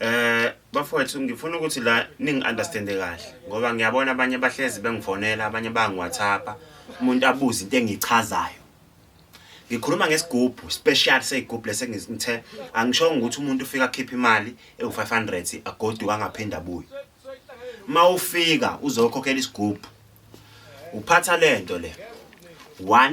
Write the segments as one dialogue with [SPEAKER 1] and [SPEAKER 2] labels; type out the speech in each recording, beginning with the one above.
[SPEAKER 1] Eh bafowethu ngifuna ukuthi la ningi understand kahle ngoba ngiyabona abanye abahlezi bengifonela abanye bangi WhatsApp umuntu abuza into engichazayo ngikhuluma ngesigubhu special seyigubhu lesengithe angishongo ukuthi umuntu ufika akhipha imali ewu500 agodi wangaphinde abuye mawufika uzokhokhela isigubhu uphatha lento le 1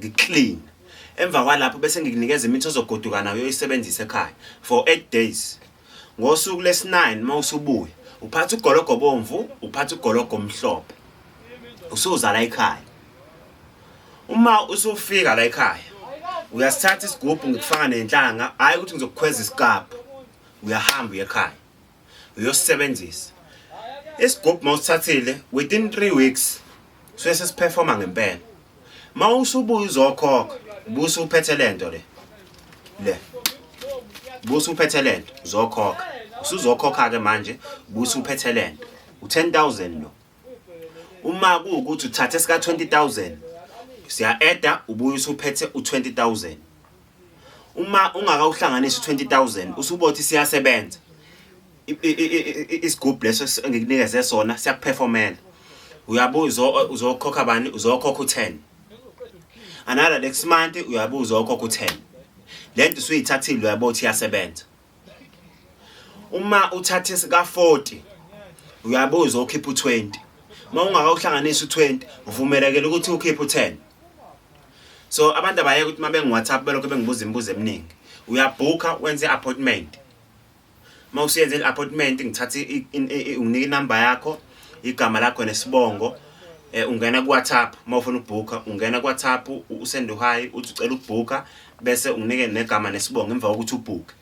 [SPEAKER 1] ngiclean emva kwalapho bese ngikunikeza imithi ozogoduka nayo uyisebenzise ekhaya for 8 days ngosuku lesi-9 uma usubuya uphatha ugologo obomvu uphatha ugologo omhlophe usuza la ekhaya uma usufika la ekhaya uyasithatha isigubhu ngikufaka nenhlanga hhayi ukuthi ngizokukhweza isikabhu uyahamba uye ekhaya uyosisebenzisa isigubhu mawusithathile within 3 weeks suye sesiperforma ngempela mawusubuya uzokhokha busa uphethe lento le le busa uphethe lento uzokhokha usuzokhokha ke manje busa uphethe lento u10000 lo uma kuwukuthi uthathe sika 20000 siya adda ubuye usuphethe u20000 uma ungakawuhlanganisi 20000 usubothi siyasebenza isigubhu leso engikunikeze sona siyakuperformela uyabuza uzokhokha bani uzokhokha u10 another next month uyabuza uzokhokha u10 lento usuyithathile uyabothi iyasebenza uma uthatha esika 40 uyabe uzokhipha u20 uma ungakawuhlanganisa u20 uvumelekele ukuthi ukhiphe u10 so abantu abaye ukuthi uma bengi WhatsApp belokho bengibuza imibuzo eminingi uyabhukha wenze appointment uma usuyenze i-appointment ngithatha unginika inumber yakho igama lakho nesibongo eh ungena ku WhatsApp uma ufuna ukubhukha ungena ku WhatsApp usende uhayi uthi ucela ukubhukha bese unginike negama nesibongo emva kokuthi ubhuke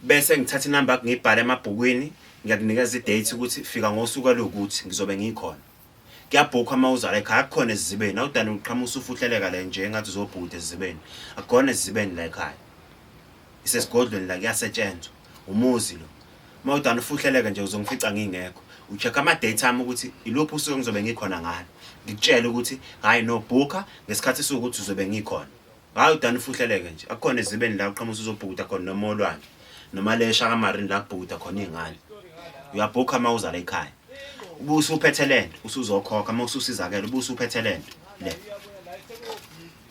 [SPEAKER 1] bese ngithatha inamba yakho ngiyibhale emabhukwini ngiyakunikeza idate ukuthi fika ngosuku alokuthi ngizobe ngikhona kuyabhukwa uma uzala ekhaya akukhona ezizibeni awudani uqhamuka usufuhleleka le nje engathi uzobhuda ezizibeni akukhona ezizibeni la ekhaya isesigodlweni la kuyasetshenzwa umuzi lo uma udani ufuhleleke nje uzongifica ngingekho ucheck ama-date ami ukuthi iluphi usuku engizobe ngikhona ngalo ngikutshele ukuthi hhayi no bhukha ngesikhathi esiwukuthi uzobe ngikhona hayi udani ufuhleleke nje akukhona ezibeni la uqhamusa uzobhukuda khona noma olwandle noma lesha kamarini la kubhukuda khona iy'ngane uyabhukha uma uzala ekhaya ube usuphethe le nto usuzokhokha uma ususizakele ube usuphethe le nto le